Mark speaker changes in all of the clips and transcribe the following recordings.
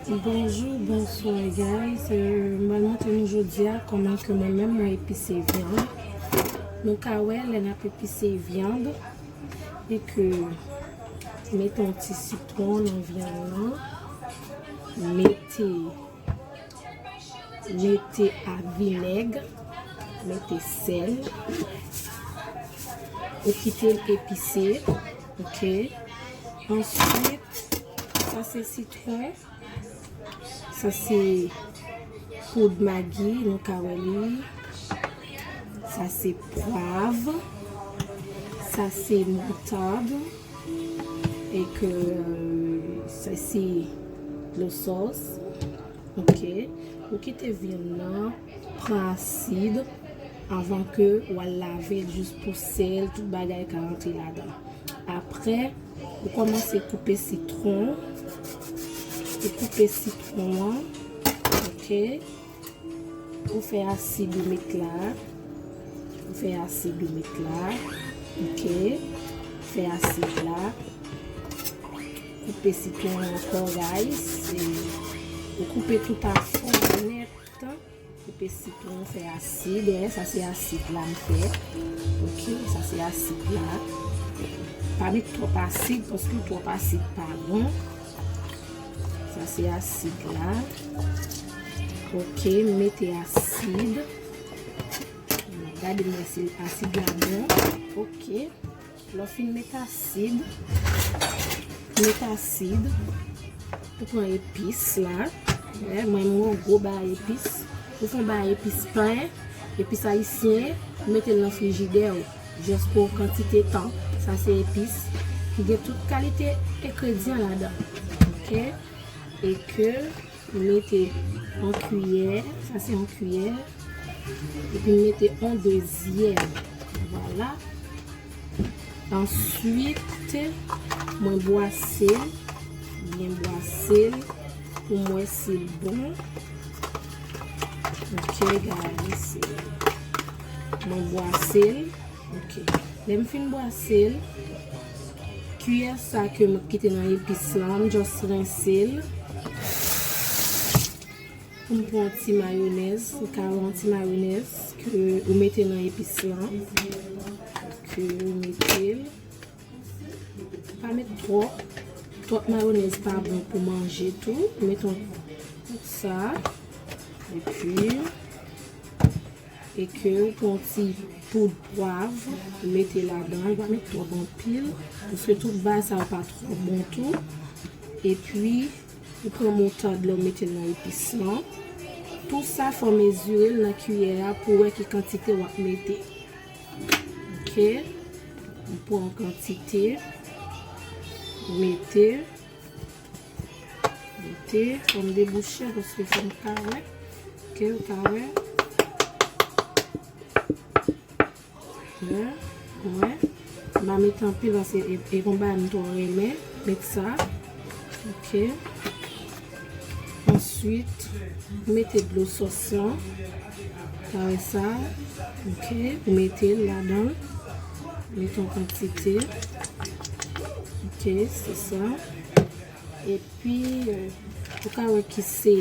Speaker 1: Bonjour, bonsoir guys. Euh, mwen montre nou jodia koman ke mwen menm mwen epise viande. Nou ka wè lè n ap epise viande e ke mete yon ti sitron nan viande nan. Mete Mete a vinèg, mete sèl. Ou kite l epise. Ok. Answit, sa se sitron. Sa se poud magi nou ka wè li. Sa se pwav. Sa se moutad. E ke se si lo sos. Ok. Ou kite vyann nan pran asid avan ke ou al lave l jis pou sel tout bagay ka antre ladan. Apre ou komanse koupe sitron. Ou koupe sitron an. Ok. Ou fè asid ou met la. Ou fè asid ou met la. Ok. Ou fè asid la. Koupe sitron an ankò guys. Ou koupe tout a fon net. Koupe sitron ou fè asid. Ou wè sa se asid la m fè. Ok. Sa se asid la. Pa met twòp asid paske twòp asid pa bon. Sa se asid la. Ok, m mete asid. Gade mwen se asid la bon. Ok. Lò fin met asid. Met asid. Ou pran epis la. Mwen mwen mwen gwo ba epis. Ou fon ba epis pen. Epis ayisyen. Mete l nan frijidè ou. Just pou kantite tan. Sa se epis ki gen tout kalite engredyan ladan. Ok. E ke m mete yon kiyè. Sa se yon kiyè. E pi m mete yon dezyèm. Vwala. Answit mwen bwase l. Byen bwase l. Pou m wè si l bon. Ok guys. Mwen bwase l. Ok. Lè m fin bwase l, kiyè sa ke m kite nan epis lan, m just rense l. Pou m pran yon ti mayonèz, ou ka wè yon ti mayonèz ke ou mete nan epis lan. Ke ou mete l. Pa met twòp. Twòp mayonèz pa bon pou manje tou. Met yon sa. E pi. E ke ou pran ti poud pwav ou mete ladan ou pa met twòp anpil paske tout baz sa yo pa twò bon tou epi ou pran moutad la ou metel nan epis lan tou sa fò mezirel nan kiyè a pou wè ki kantite wap mete ok ou pran kantite ou mete. Mete pou m debouche l paske fò m ka wè. Ok, ou ka wè. Mwen, mwen. M pa mete anpil paske e kon bagay m twò renmen. Met sa. Ok. Answit, mete dlo sòs lan. Kare sa ok ou metel ladan met yon kantite ok se sa epi ou ka wè ki se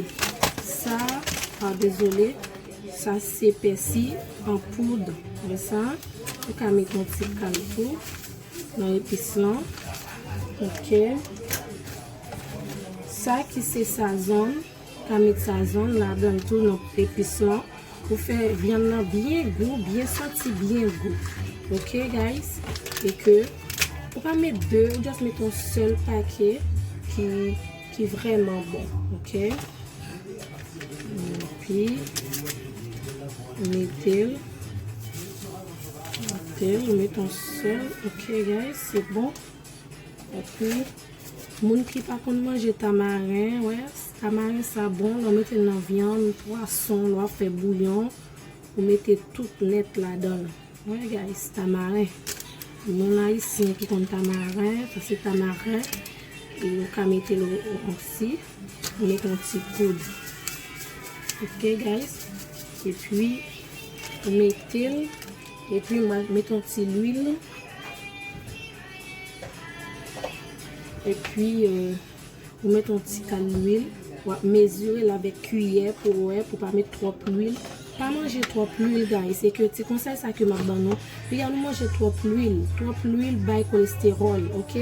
Speaker 1: sa ah dezole sa se pèsi an poud wè sa ou ka met yon ti kal tou nan epis lan ok sa ki se sazon. Ka met sazon ladanl tou non epis lan pou fè vyann nan byen gou byen santi byen gou ok guys e ke ou pa met 2 ou just met yon sèl pake ki ki vrèman bon ok epi metel metel ou met yon sèl ok guys se bon. Ok Moun ki pa konn manje tamaren wè tamaren sa bon lè w mete l nan vyann pwason lè wap fè bouyon ou mete tout nèt ladan l wè guys tamaren moun ayisyen ki konn tamaren sa se tamaren ou ka mete l osi ou mete yon ti poud ok guys epi ou mete l. Epi mwen met yon ti lwil. Epi ou met yon ti kal lwil. Wap mezire l avèk kiyè pou ou wè pou pa met twòp lwil. Pa manje twòp lwil guys. Se ke ti konsèy sa ke map ban nou. Piga nou manje twòp lwil. Twòp lwil bay kolesteròl ok.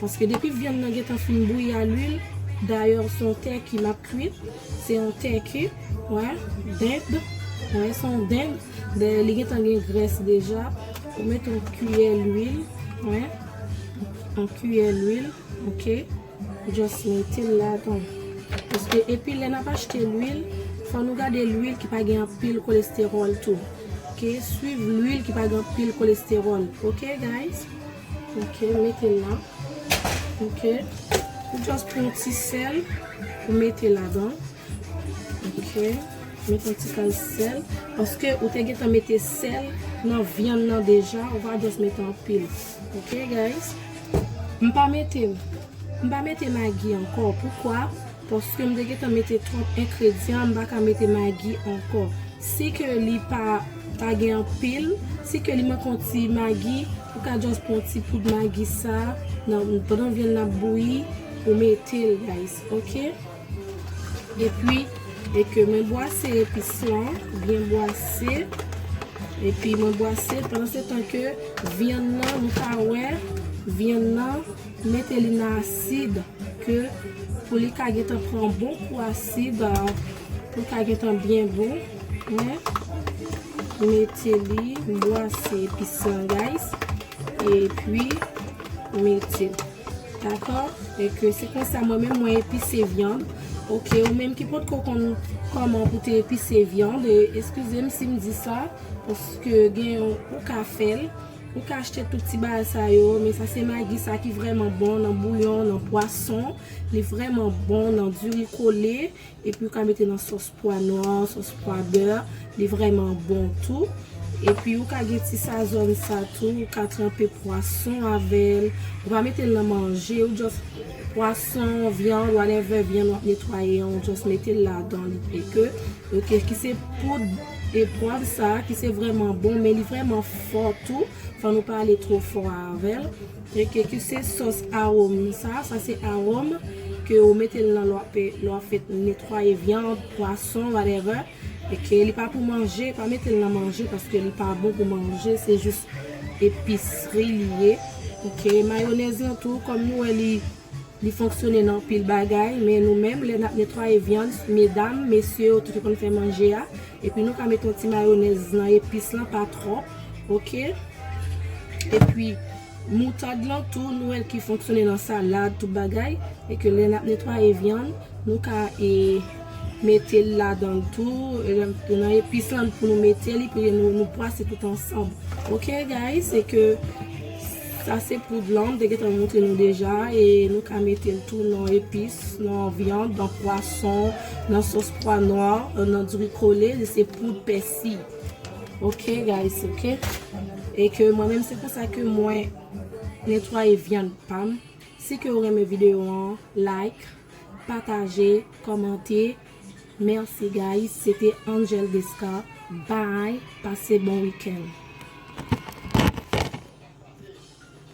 Speaker 1: Paske depi vyann nan gentan fin bouyi a lwil. Dayè se yon tèki map kwit. Se yon tèki. Ou wè. Dend. Ou wè se yon dend. Dèyè li gentan gen grès deja, ou mete yon kiyè lwil, wen, yon kiyè lwil, ok, ou just metel ladan, paske epi lè nap achte lwil, fò nou gade lwil ki pa gen anpil kolesteròl tou, ok, swiv lwil ki pa gen anpil kolesteròl, ok guys, ok, metel la, ok, ou just pran yon ti sèl, ou mete ladan. Ok met yon ti kal sèl paske ou te gentan mete sèl nan vyann nan deja ou pa just mete anpil ok guys m pa mete m pa mete magi ankò poukwa paske m te gentan mete twòp enkredyan m pa ka mete magi ankò si ke li pa pa gen anpil si ke li manke yon ti magi ou ka just pran yon ti poud magi sa pandan vyann nan ap bouyi ou mete l guys ok. Epi e ke mwen bwase epis la, byen bwase. Epi mwen bwase pandan se tan ke vyann nan nou ka wè vyann nan mete li nan asid ke pou li ka gentan pran bon kou asid pou l ka gentan byen bon. Mwen mete li, m bwase epis la guys. Epi mete. Dakò e ke se konsa mwen menm mwen epise vyann ok ou menm ki potko konn kòman pou te epise vyann e eskizem sim di sa paske gen yon ou ka fèl ou ka achte tout ti bagay sa yo men sa se magi sa ki vrèman bon nan bouyon nan pwason li vrèman bon nan diri kole. Epi ou ka mete nan sòs pwa nwa, sòs pwa bè, li vrèman bon tou. Epi ou ka gen ti sazòn sa tou, ou ka tranpe pwason avè l. Ou pa mete l nan manje, ou just pwason, vyann, whatever vyann w ap netwaye an, ou just mete l ladan li e ke. Ok, ki se poud e pwav sa ki se vrèman bon, men li vrèman fò tou, fò nou pa ale twò fò avè l. Rete ke se sòs arom sa, sa se arom ke ou metel nan lè wap lè wap fèt netwaye viande, pwason whatever e ke li pa pou manje, pa metel nan manje paske li pa bon pou manje se jis episri li ye ok mayonèz lan tou kòm nou wè li. Li fonksyone nan anpil bagay, men nou menm lè nap netwaye vyann, medam, mesye yo tout ki konn fè manje a, epi nou ka mete yon ti mayonèz nan epis lan pa twòp ok, epi moutad lan tou nou wèl ki fonksyone nan salad tout bagay, e ke lè nap netwaye vyann nou ka e metel ladanl tou, nan epis lan pou nou mete li, pou nou pwase tout ansanm ok guys, e ke. Sa se poud lan, m te gentan moutre nou deja e nou ka mete l tou nan epis, nan vyann, nan pwason, nan sòs pwa nwa, nan dri kole, li se poud pèsi. Ok guys ok. E ke mwen menm se konsa ke mwen netwaye vyann pa m. Si ke ou renmen videyo an, like, pataje, kòmante, Merci guys se te Angel Descar bby pase bon weekend.